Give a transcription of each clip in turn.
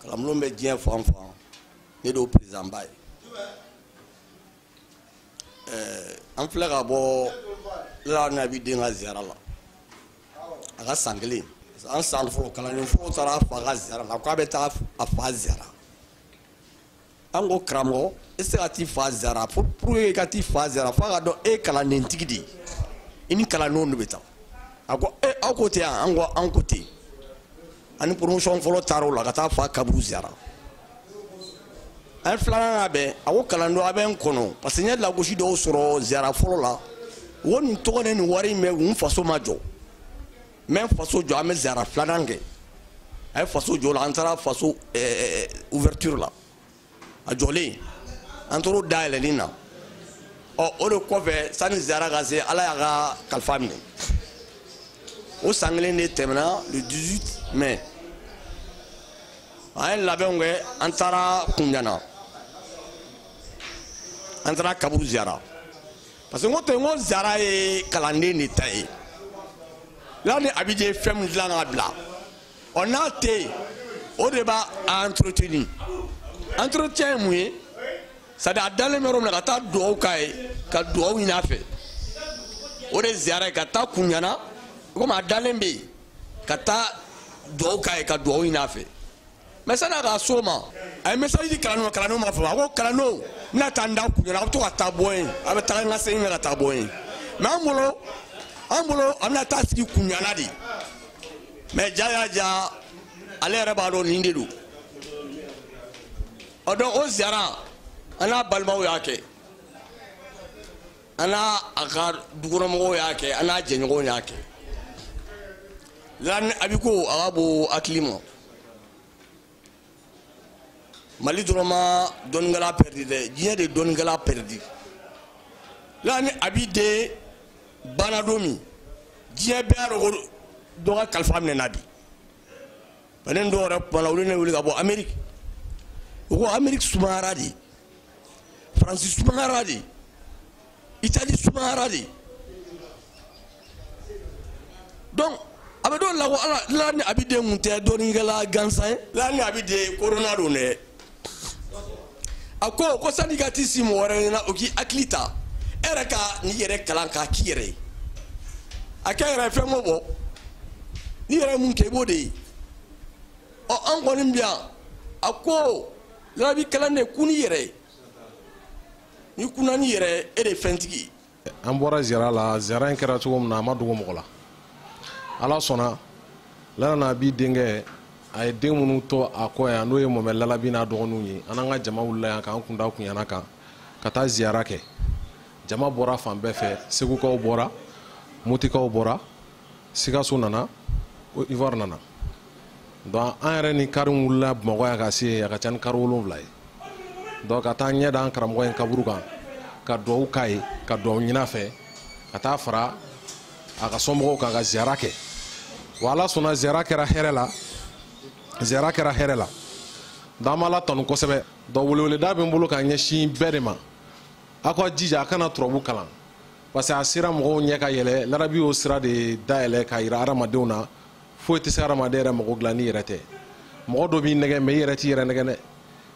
kalanbulon bɛ diɲɛ fan fan ne de y'o perezidanba ye ɛɛ an filɛ ka bɔ lani abidin ka ziyara la a ka san kelen an san fɔlɔ kalanden fɔlɔ taara a fa ka ziyara la k'a bɛ taa a fa ziyara an ko karamɔgɔ i se ka t'i fa ziyara pour que i ka t'i fa ziyara f'a ka dɔn e ye kalanden tigi de ye i ni kalandenw de bɛ taa a ko e aw ko ten yan an ko an ko ten ani promotion fɔlɔ taara o la ka taa fa kaburu ziyara an filanan labɛn a ko kalandenw a bɛ n kɔnɔ parce que n ye lagosi dɔw sɔrɔ ziyara fɔlɔ la wo nin tɔgɔ ni nin wari in bɛɛ n faso ma jɔ n bɛ faso jɔ an bɛ ziyara filanan kɛ a ye faso jɔ la an taara faso eh, eh, eh, ouverture la a jɔlen an taar'o dayɛlɛni na ɔ o de kɔfɛ sani ziyara ka se ala y'a ka kalifa minɛ o san kelen de tɛmɛna le 18 mai an ye labɛnw kɛ an taara kunjana an taara kaburu ziyara parce que n ko ten n ko ziyara ye kalanden de ta ye lani abidin ye fɛn min dilan ka bila ɔ n'a tɛ yen o de b'a entretenir entretien ye mun ye c'est à dire a dalen bɛ yɔrɔ min na ka taa dugawu k'a ye ka dugawu ɲini a fɛ o de ye ziyara ye ka taa kunjana komi a dalen bɛ yen ka taa dugawu k'a ye ka dugawu ɲini a fɛ mɛ sani a ka so ma a ye message di kalandenw ma kalandenw m'a faamu a ko kalandenw n bɛna taa n da kunjana a bɛ to ka taa bɔ yen a bɛ taga ka segin ka taa bɔ yen mɛ an bolo an bolo a bɛna taa sigi kunjana de mɛ ja y'a ja ale yɛrɛ b'a dɔn nin de don ɔ dɔn o ziyara an n'a balimaw y'a kɛ an n'a a ka dukɔnɔmɔgɔw y'a kɛ an n'a jɛɲɔgɔnw y'a kɛ lani abi ko a ka bon hakili ma mali dɔrɔn ma dɔnnikɛla pɛridi dɛ diɲɛ de dɔnnikɛla pɛridi lani abidin banna don min diɲɛ bɛɛ y'a dɔn ko dɔ ka kalifa minɛna bi ale dɔw yɛrɛ kumana olu ne wuli ka bɔ ameriki u ko ameriki sumayara dɛ faransi sumayara dɛ itali sumayara dɛ donc a bɛ dɔw la ko ala lani abidin tun tɛ dɔnnikɛla gansan ye lani abidin korona don dɛ a ko ko sani ka t'i sigi mɔgɔ wɛrɛ ɲɛna o k'i hakili ta e yɛrɛ ka n'i yɛrɛ kalan k'a k'i yɛrɛ ye a kɛ yɛrɛ fɛn ko bɔ n'i yɛrɛ mun kɛ i b'o de ye ɔ an kɔni bi yan a ko larabu kalan de kun n'i yɛrɛ ye n'i kunna n'i yɛrɛ ye e de ye fɛntigi ye an bɔra ziyara la ziyara in kɛra cogo min na a ma dogo mɔgɔ la ala sɔnna lala ni abi denkɛ a ye den minnu to a kɔ yan n'o ye mɔmɛ lalabi n'a dɔgɔninw ye an n'an ka jama wulila yan k'an kun da kunyana kan ka taa ziyara kɛ jama bɔra fan bɛɛ fɛ segukaw bɔra motikaw bɔra sikaso nana côte d'ivoire nana donc an yɛrɛ ni kari wulila bamakɔ yan ka se a ka ca ni kari wolonwula ye donc ka taa ɲɛ da an karamɔgɔ in kaburu kan ka duwawu k'a ye ka duwawu ɲin'a fɛ ka taa fara a ka somɔgɔw kan ka ziyara kɛ wa ala sɔnna ziyara kɛra hɛrɛ la ziyara kɛra hɛrɛ la donc an b'ala tanu kosɛbɛ donc weleweleda bɛ n bolo ka ɲɛsin bɛɛ de ma aw ka jija a ka na turabu kalan parce que a sira mɔgɔw ɲɛ ka yɛlɛ lalabi y'o sira de dayɛlɛ ka yira adamadenw na foyi tɛ se adamaden yɛrɛ mago dilan n'i yɛrɛ tɛ mɔgɔ dɔ b'i nɛgɛn mɛ i yɛrɛ t'i yɛrɛ nɛgɛn dɛ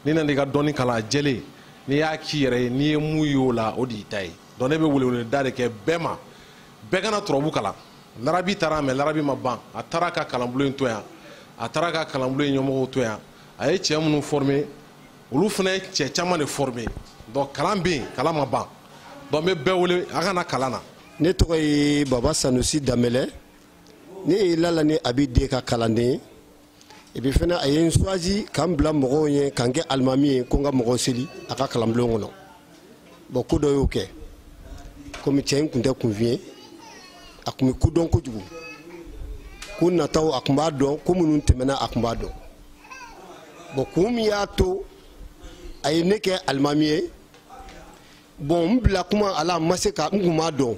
n'i nana i ka dɔnni kalan jɛlen n'i y'a k'i yɛrɛ ye n'i ye mun ye o la o de y'i ta ye donc ne bɛ weleweleda de kɛ bɛɛ ma bɛɛ ka na turabu kalan lalabi taara mɛ lalabi ma ban a taara ka kalanbulon in to yan a taara ka kalanbulon in ɲɛmɔgɔw to yan a ye cɛ minnu former olu fana ye cɛ caman de former donc kalan bɛ yen kalan ma ban donc n bɛ bɛɛ wele a ka na kalan na. ne tɔgɔ ye baba sanusi danbɛlɛ ne ye lala ni abi den ka kalanden ye epi fana a ye n suwazi ka n bila mɔgɔw ɲɛ ka n kɛ alimami ye ko n ka mɔgɔw seli a ka kalanbulon kɔnɔ. bɔn ko dɔ y'o kɛ komi cɛ in kun tɛ kunfin ye a kun bɛ ko dɔn kojugu ko nataw a kun b'a dɔn ko minnu tɛmɛna a kun b'a dɔn bɔn kun min y'a to a ye ne kɛ alimami ye bɔn n bila kuma ala n ma se ka n kun b'a dɔn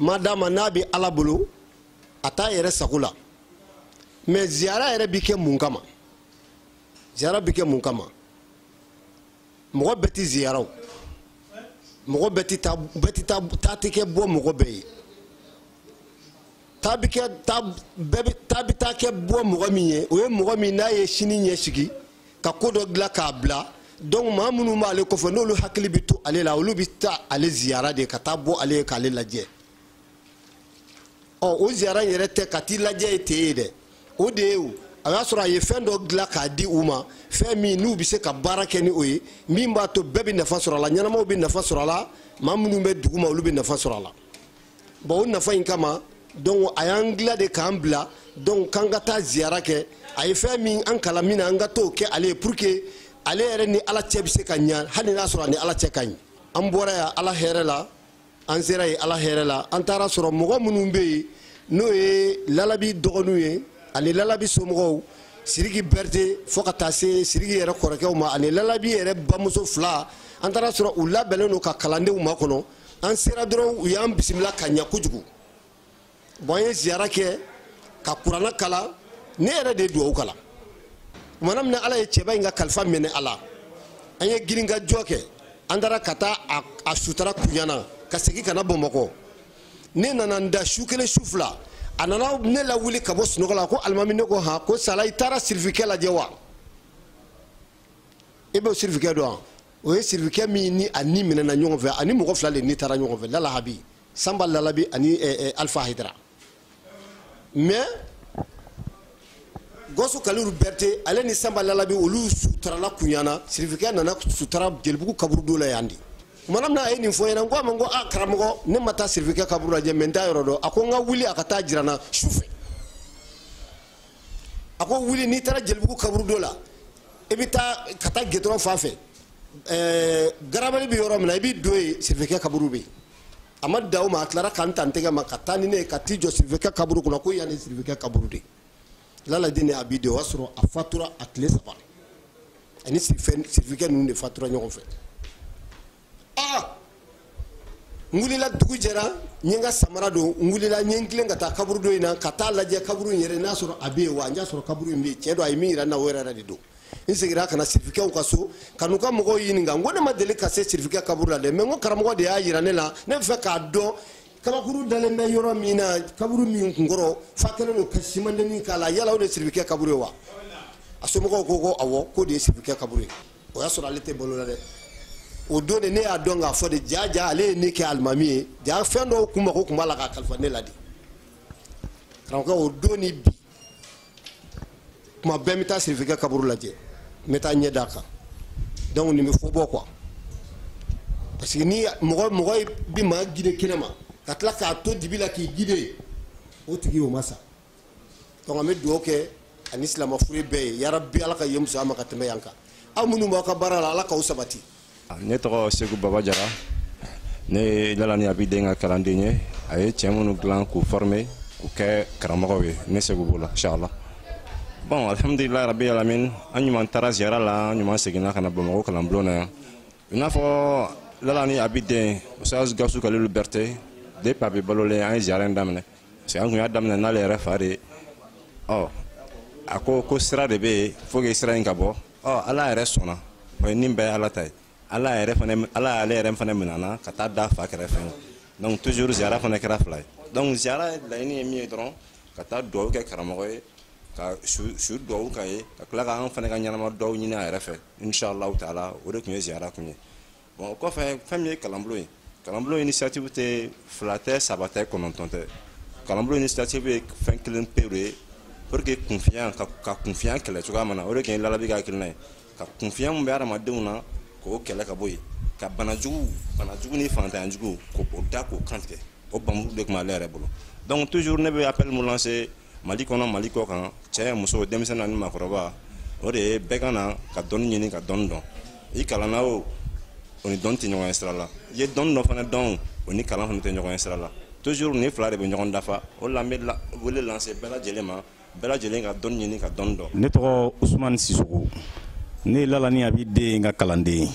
ma d'a ma n'a bɛ ala bolo a t'a yɛrɛ sago la mɛ ziyara yɛrɛ bi kɛ mun kama ziyara bi kɛ mun kama mɔgɔ bɛɛ ti ziyara o mɔgɔ bɛɛ ti taa bɛɛ ti taa taa ti kɛ bɔ mɔgɔ bɛɛ ye taa bi kɛ taa bɛɛ bi taa bi taa kɛ bɔ mɔgɔ min ye o ye mɔgɔ min n'a ye sini ɲɛsigi ka ko dɔ dilan k'a bila donc maa minnu b'ale kɔfɛ n'olu hakili bɛ to ale la olu bɛ taa ale ziyara de ka taa bɔ ale ye k'ale lajɛ ɔ o ziyara in yɛrɛ tɛ ka t'i lajɛ ye ten ye dɛ o de ye o a y'a sɔrɔ a ye fɛn dɔ dilan k'a di u ma fɛn min n'u bɛ se ka baara kɛ ni o ye min b'a to bɛɛ bɛ nafa sɔrɔ a la ɲɛnamaw bɛ nafa sɔrɔ a la maa minnu bɛ dugu ma olu bɛ nafa sɔrɔ a la bɔn o nafa in kama donc a y'an gila de k'an bila donc k'an ka taa ziyara kɛ a ye fɛn min an kalan min na an ka t'o kɛ ale ye pour que ale yɛrɛ ni ala cɛ bɛ se ka ɲa hali n'a sɔrɔ a ni ala cɛ ka ɲi an bɔra yan ala hɛrɛ la an sera yen ala hɛrɛ la an taara sɔrɔ mɔgɔ minnu bɛ yen n'o ye lalabi dɔgɔninw ye ani lalabi somɔgɔw siriki berete fo ka taa se siriki yɛrɛ kɔrɔkɛw ma ani lalabi yɛrɛ bamuso fila an taara sɔrɔ u labɛnnen don ka kalandenw makɔnɔ an sera dɔrɔn u y'an bisimila ka ɲa kojugu bon an ye ziyara kɛ ka kurana kalan ne yɛrɛ de ye duwawu kalan tumana min na ala ye cɛba in ka kalifa minɛ a la an ye girinkajɔ kɛ an taara ka taa a sutara kuɲana ka segin ka na bamakɔ ne nana n da su kelen su fila a nana ne lawuli ka bɔ sunɔgɔ la ko alimami ne ko han ko sala i taara sirifikɛ lajɛ wa i bɛ sirifikɛ dɔn wa o ye sirifikɛ min ni a ni minɛna ɲɔgɔn fɛ ani mɔgɔ fila de ni taara ɲɔgɔn fɛ lalahabi sanba lalabi ani eh, eh, alifa hayidara mais gawusu kalilu bɛrite ale ni sanba lalabi olu sutarala kuɲana sirifikɛ nana sutara jelibugu kaburudo la yan de kumana min na a ye nin fɔ n ɲɛna n ko a ma n ko a karamɔgɔ ne ma taa sirifikɛ kaburu lajɛ mais n t'a yɔrɔ dɔn a ko n ka wuli a ka taa jira n na su fɛ a ko wuli n'i taara jelibugu kaburudo la i bɛ taa ka taa gudɔrɔn fan fɛ garabali bɛ yɔrɔ min na i bɛ don yen sirifikɛ kaburu bɛ a ma da ma a tilara ka n ta n tɛgɛ ma ka taa ni ne ye ka t'i jɔ sirifikɛ kaburu kunna ko yan de sirifikɛ kaburu de lalani abi den o y'a sɔrɔ a fatura a tile saba a ni sirifikɛ ninnu de fatura ɲɔgɔn fɛ n wulila dugu jɛra n ye n ka samara don n wulila n ye n tilen ka taa kaburudo in na ka taa lajɛ kaburu in yɛrɛ n'a sɔrɔ a bɛ yen wa n y'a sɔrɔ kaburu in bɛ yen tiɲɛ don a ye min yira n na o yɛrɛ yɛrɛ de don n seginna ka na sirifikɛw ka so ka n'u ka mɔgɔw ɲininka n ko ne ma deli ka se sirifikɛ kaburu la dɛ mais n ka karamɔgɔ de y'a yira ne la ne b'a fɛ k'a dɔn kabakuru dalen bɛ yɔrɔ min na kaburu min kunkɔrɔ fan kɛlen don ka simandeni k'a la yala o de ye sirifikɛ kaburu ye wa a somɔgɔw ko ko awɔ k'o de ye sirifikɛ kaburu ye o y'a sɔrɔ ale tɛ balo la dɛ o don de ne y'a dɔn k'a fɔ dɛ jaa jaa ale ye ne kɛ alimami ye jaa fɛn dɔw kun mago kun b'a la k'a kalifa ne la de karamɔgɔkɛ o don ni bi kuma bɛɛ n bɛ taa sirifikɛ kaburu lajɛ n bɛ taa n ɲɛ d'a kan donc nin bɛ fɔ bɔ quoi parce que ni mɔgɔ mɔgɔ bɛ maa gide kɛnɛ ma ka tila k'a to dibi la k'i gide o tigi o ma sa donc an bɛ dugawu kɛ a ni silama fure bɛɛ ye yarabi ala ka yen suma ka tɛmɛ yan kan aw minnu b'aw ka baara la ala k'aw sabati ne tɔgɔ seku baba jara ne ye lalani abi den ka kalanden ye a ye cɛ minnu dilan k'u forme k'u kɛ karamɔgɔw ye ne seku b'o la inshallah bon alhamdulilahi rabi alamin an ɲuman taara ziyara la an ɲuman seginna ka na bamakɔ kalanbulon na yan i n'a fɔ lalani abi den ustaz gawusu kalilu bɛrite depuis a bɛ balolen an ye ziyara in daminɛ parce que an kun y'a daminɛ n'ale yɛrɛ fa de ye ɔ a ko ko sira de bɛ yen faut que sira in ka bɔ ɔ ala yɛrɛ sɔnna o ye ni bɛɛ ye ala ta ye ala yɛrɛ fana ala y'ale yɛrɛ fana minɛ ka taa da a fa kɛrɛfɛ donc toujours ziyara fana kɛra fila ye donc ziyara laɲini ye min ye dɔrɔn ka taa duwawu kɛ karamɔgɔ ye ka su su duwawu k'a ye ka tila ka an fana ka ɲɛnama duwawu ɲini a yɛrɛ fɛ inshallahu taala o de tun ye ziyara kun ye bon o kɔfɛ fɛn min ye kalanbulon ye kalanbulon initiative tɛ fila tɛ saba tɛ kɔnɔntɔn tɛ kalanbulon initiative ye fɛn kelen pewu ye pour que kunfinya ka, ka kunfinya kɛlɛ cogoya min na o de tun ye lalabi ka hakilina ye ka kunfinya min bɛ adamadenw na k'o kɛlɛ ka bɔ yen ka bana jugu bana jugu ni fantanya jugu k'o da k'o kantigɛ o bamuru de tun b'ale yɛrɛ bolo donc toujours ne bɛ appel mun lancer mali kɔnɔ mali kɔ kan cɛ muso denmisɛn ani makɔrɔba o de ye bɛɛ ka na ka dɔnni ɲini ka dɔnni dɔn i kalanna o o ni dɔnni tɛ ɲɔgɔn ye sira la i ye dɔnni dɔ fana dɔn o ni kalan fana tɛ ɲɔgɔn ye sira la toujours nin fila de bɛ ɲɔgɔn dafa o la n bɛ wele lancer bɛɛ lajɛlen ma bɛɛ lajɛlen ka dɔnni ɲini ka dɔnni dɔn ne tɔgɔ usumani sisoko ne ye lala ni abi den ka kalanden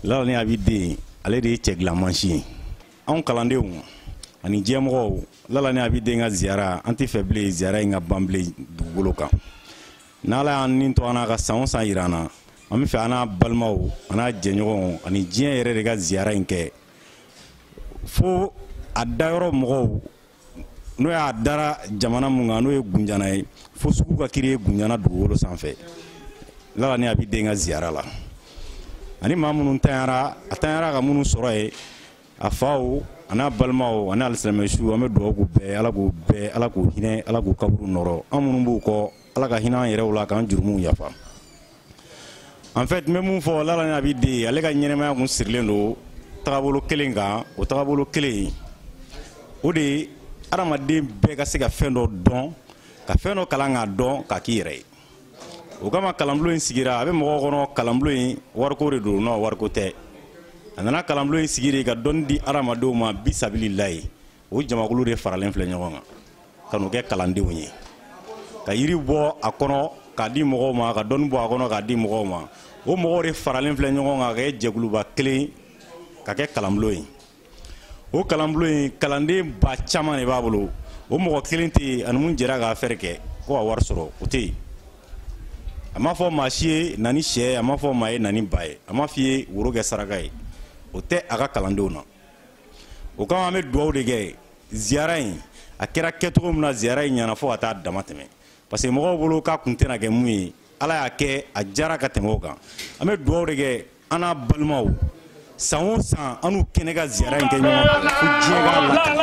lala ni abi den ale de ye cɛ dilan mansin ye anw kalandenw ani diɲɛ mɔgɔw lala ni abi den ka ziyara an t'a fɛ bilen ziyara in ka ban bilen dugukolo kan n'ala y'an ni to an'a ka san o san yira an na an b'a fɛ an n'a balimaw an n'a jɛɲɔgɔnw ani diɲɛ yɛrɛ de ka ziyara in kɛ fo a dayɔrɔ mɔgɔw n'o y'a dara jamana mun kan n'o ye gunjana ye fo sugu ka kiri ye gunjana dugukolo sanfɛ lala ni abi den ka ziyara la ani maa minnu tanyara a tanyara ka minnu sɔrɔ yen a faw an'a balimaw ani alisilamɛ suw an bɛ dugawu k'u bɛɛ ala k'u bɛɛ ala k'u hinɛ ala k'u kaburu nɔrɔ an minnu b'u kɔ ala ka hinɛ an yɛrɛw la k'an jurumuw yafa en fait n bɛ mun fɔ lala ni abi den ale ka ɲɛnamaya kun sirilen don tagabolo kelen kan o tagabolo kelen o de ye adamaden bɛɛ ka se ka fɛn dɔ dɔn ka fɛn dɔ kalan k'a dɔn k'a k'i yɛrɛ ye o kama kalanbulon in sigira a bɛ mɔgɔw kɔnɔ kalanbulon in wariko de don non wariko tɛ a nana kalanbulon in sigi de ka dɔnni di adamadenw ma bisabililayi o jamakulu de faralen filɛ ɲɔgɔn kan ka n'u kɛ kalandenw ye ka yiri bɔ a kɔnɔ k'a di mɔgɔw ma ka dɔnni bɔ a kɔnɔ k'a di mɔgɔw ma o mɔgɔw de faralen filɛ ɲɔgɔn kan ka kɛ jɛkuluba kelen ka kɛ kalanbulon ye o kalanbulon in kalanden ba caman de b'a bolo o mɔgɔ kelen tɛ yen ani mun jɛra k'a fɛɛrɛ kɛ ko ka wari sɔrɔ o tɛ yen a m'a fɔ maa si ye na ni sɛ ye a m'a fɔ maa ye na ni ba ye a m'a f'i ye woro kɛ saraka ye o tɛ a ka kalandenw na o kama an bɛ dugawu de kɛ ziyara in a kɛra kɛcogo min na ziyara in ɲana fo ka taa damatɛmɛ parce que mɔgɔw bolo k'a kun tɛna kɛ mun ye ala y'a kɛ a diyara ka tɛmɛ o kan an bɛ dugawu de kɛ an n'a balimaw san o san an n'u kɛnɛ ka ziyara in kɛ ɲɔgɔn fɛ fo diɲɛ k'a lakana